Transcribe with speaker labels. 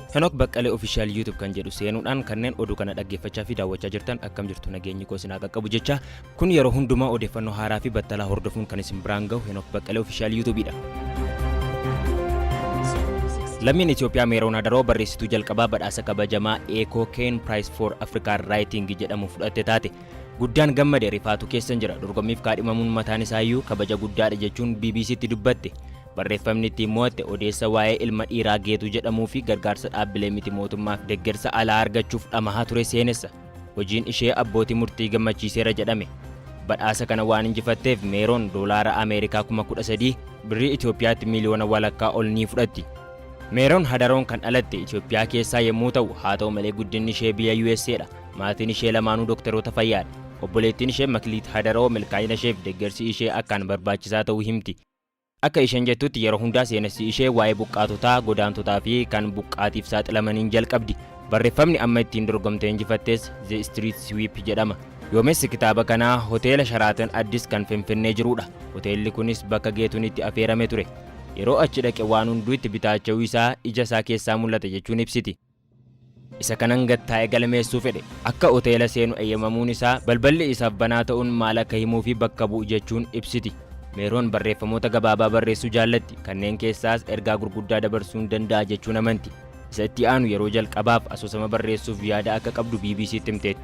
Speaker 1: Henok Baqqalee Official YouTube kan jedhu seenuudhaan kanneen oduu kana dhaggeeffachaa fi daawwachaa jirtan akkam jirtu nageenyi koo isin haa qaqqabu jecha kun yeroo hundumaa odeeffannoo haaraa fi battalaa hordofuun kan isin biraan gahu Henok Baqqalee Official YouTube dha. Lammiin Itoophiyaa Meeroon Adaroo barreessituu jalqabaa badhaasa kabajamaa Eekoo Keen Prize for African Writing jedhamu fudhatte taate. Guddaan gammade rifaatu keessan jira. Dorgommiif kaadhimamuun mataan isaayyuu kabaja guddaadha jechuun BBC'tti dubbatte. Barreeffamni ittiin mo'atte odeessa waa'ee ilma dhiiraa Geetuu jedhamuu fi gargaarsa dhaabbilee miti mootummaaf deggersa alaa argachuuf dhamahaa ture seenessa. Hojiin ishee abbootii murtii gammachiiseera jedhame. Badhaasa kana waan injifatteef Meeroon doolaara Ameerikaa kuma 13, birrii Itoophiyaatti miiliyoona walakkaa ol ni fudhatti. Meeroon Hadaroon kan dhalatte Itoophiyaa keessaa yemmuu ta'u, haa ta'u malee guddinni ishee biyya USA'dha. Maatiin ishee lamaanuu doktaroota fayyaadha. Obboleettiin ishee Makliit Hadaroo milkaa'ina isheef deeggarsi ishee akkaan barbaachisaa ta'uu himti. Akka isheen jettutti yeroo hundaa seenessi ishee waa'ee buqqaatotaa, godaantotaa fi kan buqqaatiif saaxilamaniin jalqabdi. Barreeffamni amma ittiin dorgomtee injifattes The Street Sweep jedhama. Yoomessi kitaaba kanaa Hoteela Sharaatan Addis kan Finfinnee jirudha. Hoteelli kunis bakka Geetuun itti afeerame ture. Yeroo achi dhaqe waan hunduu itti bitaacha'uu isaa ija isaa keessaa mul'ata jechuun ibsiti. Isa kanan gad taa'e galmeessuu fedhe. Akka hoteela seenu eyyamamuun isaa balballi isaaf banaa ta'uun maal akka himuufi bakka bu'u jechuun ibsiti. Meeroon barreeffamoota gabaabaa barreessuu jaallatti, kanneen keessaas ergaa gurguddaa dabarsuun danda'a jechuun amanti. Isa itti aanu yeroo jalqabaaf asoosama barreessuuf yaada akka qabdu BBC'tti himteetti.